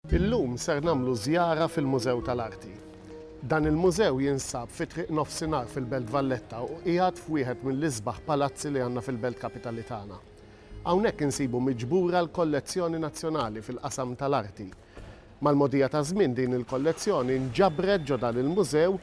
Illum ser nagħmlu żjara fil-Mużew tal-Arti. Dan il-mużew jinsab fi Triq Nofsinhar fil-Belt Valletta u qiegħed f'wieħed mill-isbaħ palazzi li għandna fil-Belt Kapitali tagħna. Hawnhekk insibu miġbura l-kollezzjoni nazzjonali fil-qasam tal-arti. Mal-mogħdija taż-żmien din il-kollezzjoni nġabret ġo dan il-mużew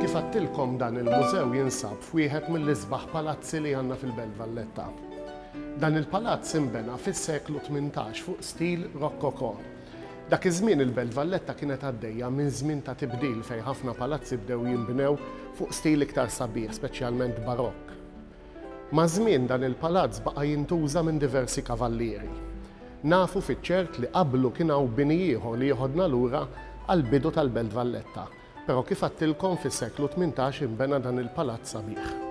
Kif għattilkom dan il-mużew jinsab f'wieħed mill-isbaħ palazzi li għandna fil-Belt Valletta. Dan il-palazz inbena fis-seklu 18 fuq stil Rokoko. Dak iż-żmien il-Belt Valletta kienet għaddejja minn żmien ta' tibdil fejn ħafna palazzi bdew jinbnew fuq stil iktar sabiħ, speċjalment Barokk. Maż-żmien dan il-palazz baqa' jintuża minn diversi kavallieri. Nafu fiċ-ċert li qablu kien hawn bini ieħor li jeħodna lura għall-bidu tal-Belt Valletta, però kif għadtilkom fis-seklu tmintax inbena dan il-palazz sabiħ.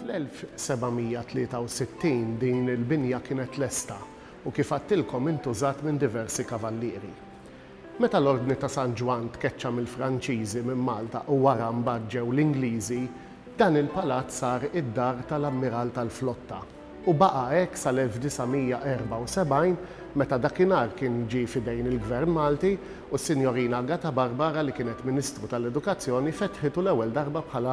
Fl-1763 din il-binja kienet lesta u kif għadtilkom intużat minn diversi kavallieri. Meta l-Ordni ta' San Ġwann tkeċċa mill-Franċiżi minn Malta u wara mbagħad ġew l-Ingliżi, dan il-palazz sar id-dar tal-Ammiral tal-Flotta u baqa' hekk sal-1974 meta dakinhar kien ġie f'idejn il-Gvern Malti u s-Sinjorina Agata Barbara li kienet Ministru tal-Edukazzjoni fetħitu l-ewwel darba bħala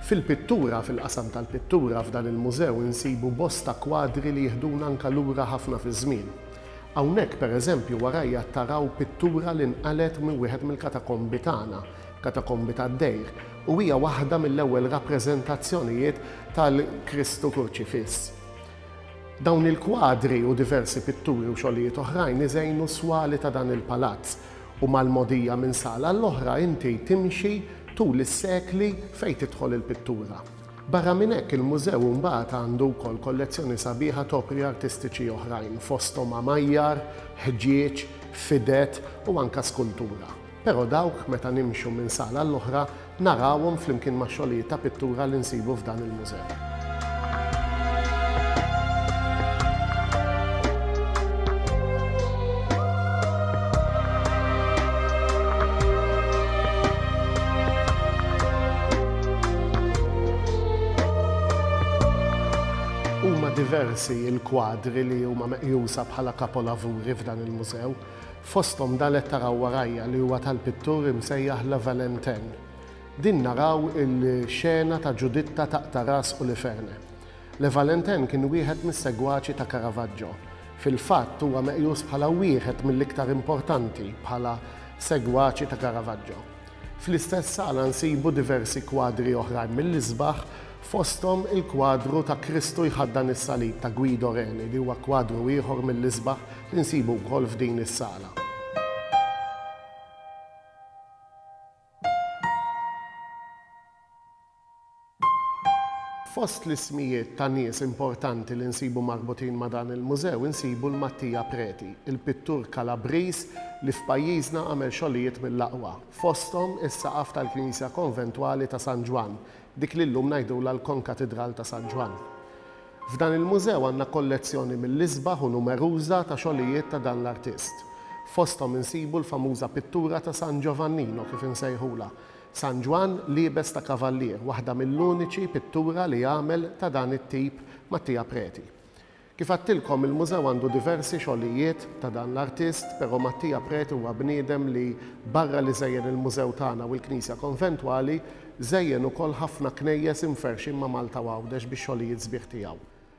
Fil-pittura, fil-qasam tal-pittura, f'dan il-mużew insibu bosta kwadri li jiħduna anka lura ħafna fiż-żmien. Hawnhekk, pereżempju, warajja taraw pittura li nqalgħet minn wieħed mill-katakombi tagħna, katakombi tad-dejr, u hija waħda mill-ewwel rappreżentazzjonijiet tal-Kristu Kurċifiss. Dawn il-kwadri u diversi pitturi u xogħlijiet oħrajn iżejnu s-swali ta' dan il-palazz, U mal-mogħdija minn sala għall-oħra inti timxi tul is-sekli fejn tidħol il-pittura. Barra minn hekk, il-mużew imbagħad għandu wkoll kollezzjoni sabiħa t'opri artistiċi oħrajn, fosthom għamajjar, ħġieġ, fided u anke skultura. Però dawk, meta nimxu minn sala għall-oħra, narawhom flimkien max-xogħlijiet ta' pittura li nsibu f'dan il-mużew. diversi il-kwadri li huma meqjusa bħala kapolavuri f'dan il-mużew. Fosthom dan qed taraw warajja li huwa tal-pittur imsejjaħ La Valentène. Din naraw il-xena ta' Ġuditta taqta' ras Uliferne. La Valentène kien wieħed mis-segwaċi ta' Caravaggio. Fil-fatt huwa meqjus bħala wieħed mill-iktar importanti bħala segwaċi ta' Caravaggio. Fl-istess sala nsibu diversi kwadri oħrajn mill-isbaħ, fosthom il-kwadru ta' Kristu jħaddan is-Salib ta' Guido Reni li huwa kwadru ieħor mill-isbaħ li nsibu wkoll f'din is-sala. Fost l-ismijiet ta' nies importanti li nsibu marbutin ma' dan il-mużew insibu 'l Mattia Preti, il-pittur Kalabriż li f'pajjiżna għamel xogħlijiet mill-aqwa, fosthom is-saqaf tal-knisja konventwali ta' San Ġwann, dik li llum ngħidulha l-Konkatidral ta' San Ġwann. F'dan il-mużew għandna kollezzjoni mill-isbaħ u numeruża ta' xogħlijiet ta' dan l-artist. Fosthom insibu l-famuża pittura ta' San Ġovannino kif insejħulha, San Ġwann liebes ta' kavallier, waħda mill-uniċi pittura li għamel ta' dan it-tip Mattia Preti. Kif għadtilkom il-mużew għandu diversi xogħlijiet ta' dan l-artist, però Mattia Preti huwa bniedem li barra li żejjen il-mużew tagħna u l-knisja konventwali, żejjen ukoll ħafna knejjes imferrxin ma' Malta u Għawdex bix-xogħlijiet sbieħ tiegħu.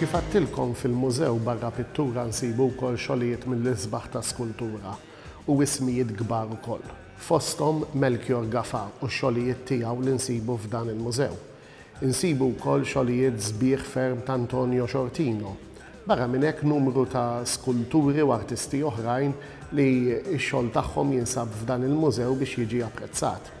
Kif għadtilkom fil-mużew barra pittura nsibu wkoll xogħlijiet mill-isbaħ ta' skultura u ismijiet kbar ukoll. Fosthom Melchior Gafa u x-xogħlijiet tiegħu li nsibu f'dan il-mużew. Insibu wkoll xogħlijiet sbieħ ferm ta' Antonio Sciortino. Barra minn hekk numru ta' skulturi u artisti oħrajn li x-xogħol tagħhom jinsab f'dan il-mużew biex jiġi apprezzat.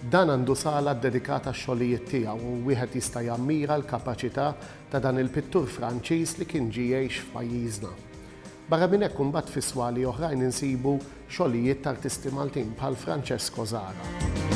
Dan għandu sala ddedikata għax-xogħlijiet tiegħu u wieħed jista' jammira l-kapaċità ta' dan il-pittur Franċiż li kien ġie jgħix f'pajjiżna. Barra minn hekk imbagħad fi swali oħrajn insibu xogħlijiet t'artisti Maltin bħal Francesco Zara.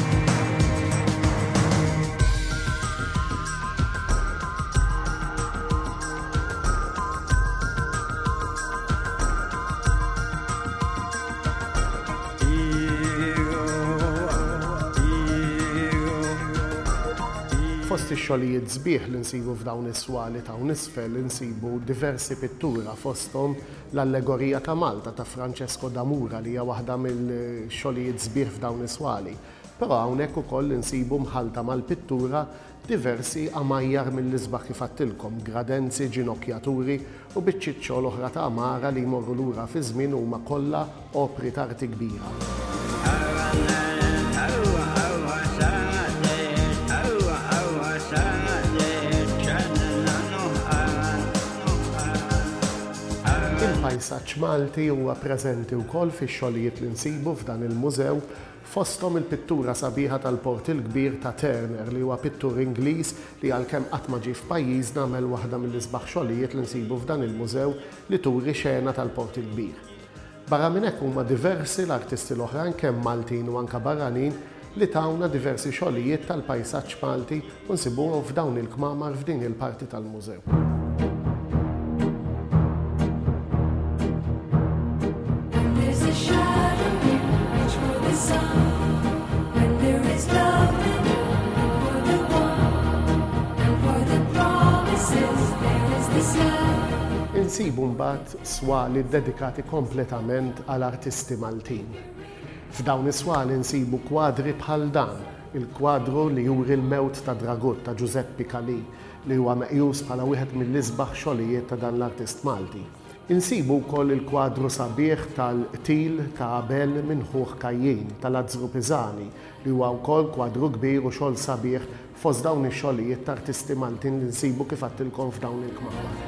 Fost ix-xogħlijiet sbieħ li nsibu f'dawn is-swali t'hawn isfel insibu diversi pittura fosthom l-Allegorija ta' Malta ta' Francesco da Mura li hija waħda mill-xogħlijiet sbieħ f'dawn is-swali. Però hawnhekk ukoll insibu mħallta mal-pittura Diversi għamajjar mill-isbaħ kif għedtilkom, gradenzi, ġinokjaturi u biċċiet xogħol oħra ta' għamara li jmorru lura fiż-żmien huma kollha opri ta' arti kbira. Il-pajsaġġ Malti huwa preżenti wkoll fix-xogħlijiet li nsibu f'dan il-mużew Fosthom il-pittura sabiħa tal-Port il-Kbir ta' Turner li huwa pittur Ingliż li għalkemm qatt ma ġie f'pajjiżna għamel waħda mill-isbaħ xogħlijiet li nsibu f'dan il-mużew li turi xena tal-Port il-Kbir. Barra minn hekk huma diversi l-artisti l-oħrajn kemm Maltin u anke barranin li tawna diversi xogħlijiet tal-pajsaġġ Malti U nsibuhom f'dawn il-kmamar f'din il-parti tal-mużew. insibu mbagħad swali dedikati kompletament għal artisti Maltin. F'dawn is-swali nsibu kwadri bħal dan Il-kwadru li juri l-mewt ta' Dragut ta' Ġużeppi Calì li huwa meqjus bħala wieħed mill-isbaħ xogħlijiet ta' dan l-artist Malti. Insibu wkoll il-kwadru sabiħ tal-qtil ta' Abel minn ħuh Kajjin ta' Lazzru Pisani li huwa wkoll kwadru kbir u xogħol sabiħ fost dawn ix-xogħlijiet t'artisti Maltin li nsibu kif għedtilkom f'dawn il-kmamar.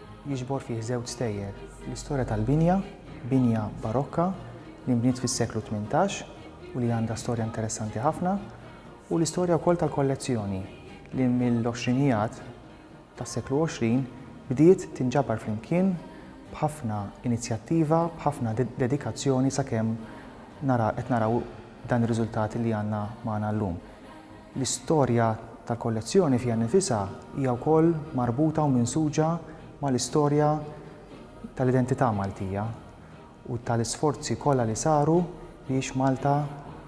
Jiġbor fih żewġ stejjer, l-istorja tal-binja, binja Barokka li nbniet fis-seklu tmintax u li għandha storja interessanti ħafna, u l-istorja wkoll tal-kollezzjoni li mill-għoxrinijat tas-seklu għoxrin bdiet tinġabar flimkien b'ħafna inizjattiva, b'ħafna dedikazzjoni sakemm nara qed naraw dan ir-riżultat li għandna magħna llum. L-istorja tal-kollezzjoni fiha nnifisha hija wkoll marbuta u minsuġa mal-istorja tal-identità Maltija u tal-isforzi kollha li saru biex Malta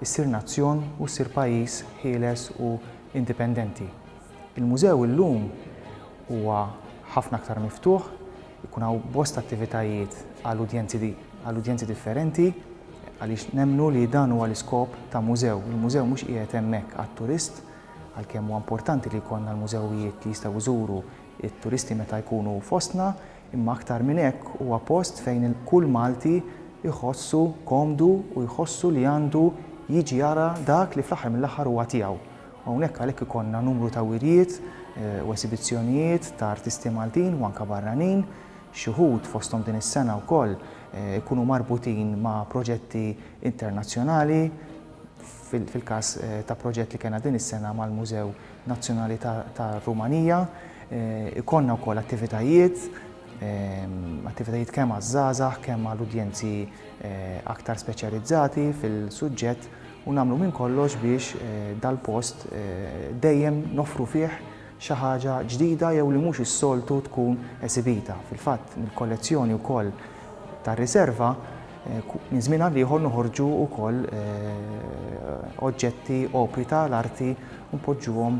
ssir nazzjon u ssir pajjiż ħieles u indipendenti. Il-mużew illum huwa ħafna aktar miftuħ, Ikun hawn bosta attivitajiet għal udjenzi għal udjenzi differenti għaliex nemmnu li dan huwa l-iskop ta' mużew. Il-mużew mhux qiegħed hemmhekk għat-turist għalkemm huwa importanti li jkollna l-mużewijiet li jistgħu jżuru t-turisti meta jkunu fostna imma aktar minn hekk huwa post fejn kull Malti jħossu komdu u jħossu li għandu jiġi jara dak li fl-aħħar mill-aħħar huwa tiegħu Hawnhekk għalhekk ikollna numru ta' wirjiet u esibizzjonijiet ta' artisti Maltin u anke barranin. Xi wħud fosthom din is-sena wkoll ikunu marbutin ma' proġetti internazzjonali, fil-każ ta' proġett li kellna din is-sena mal-Mużew Nazzjonali tar-Rumanija. Ikollna wkoll attivitajiet, attivitajiet kemm għaż-żgħażagħ, kemm għal udjenzi aktar speċjalizzati fil-suġġett u nagħmlu minn kollox biex dal-post dejjem noffru fih xi ħaġa ġdida jew li mhux is-soltu tkun esibita. Fil-fatt, mill-kollezzjoni wkoll tar-riserva minn żmien għal ieħor noħorġu wkoll oġġetti, opri ta' l-arti u npoġġuhom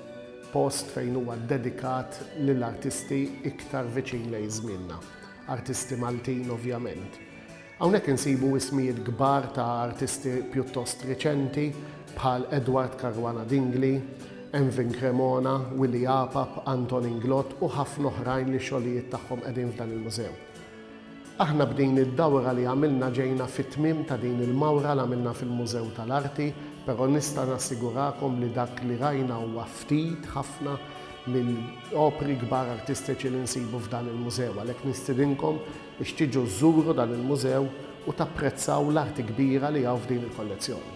Post fejn huwa ddedikat lil artisti iktar viċin lejn żmienna. Artisti Maltin ovvjament. Hawnhekk insibu ismijiet kbar ta' artisti pjuttost riċenti bħal Edward Caruana Dingli, Envin Cremona, Willy Apap, Anton Inglott u ħafna oħrajn li x-xogħlijiet tagħhom qegħdin f'dan il-mużew. Aħna b'din id-dawra li għamilna ġejna fit-tmiem ta' din il-mawra l-għamilna fil-Mużew tal-Arti, però nista' nassigurakom li dak li rajna huwa ftit ħafna mill-opri kbar artistiċi li nsibu f'dan il-mużew. Għalhekk nistidinkom biex tiġu żżuru dan il-mużew u tapprezzaw l-arti kbira li hawn f'din il-kollezzjoni.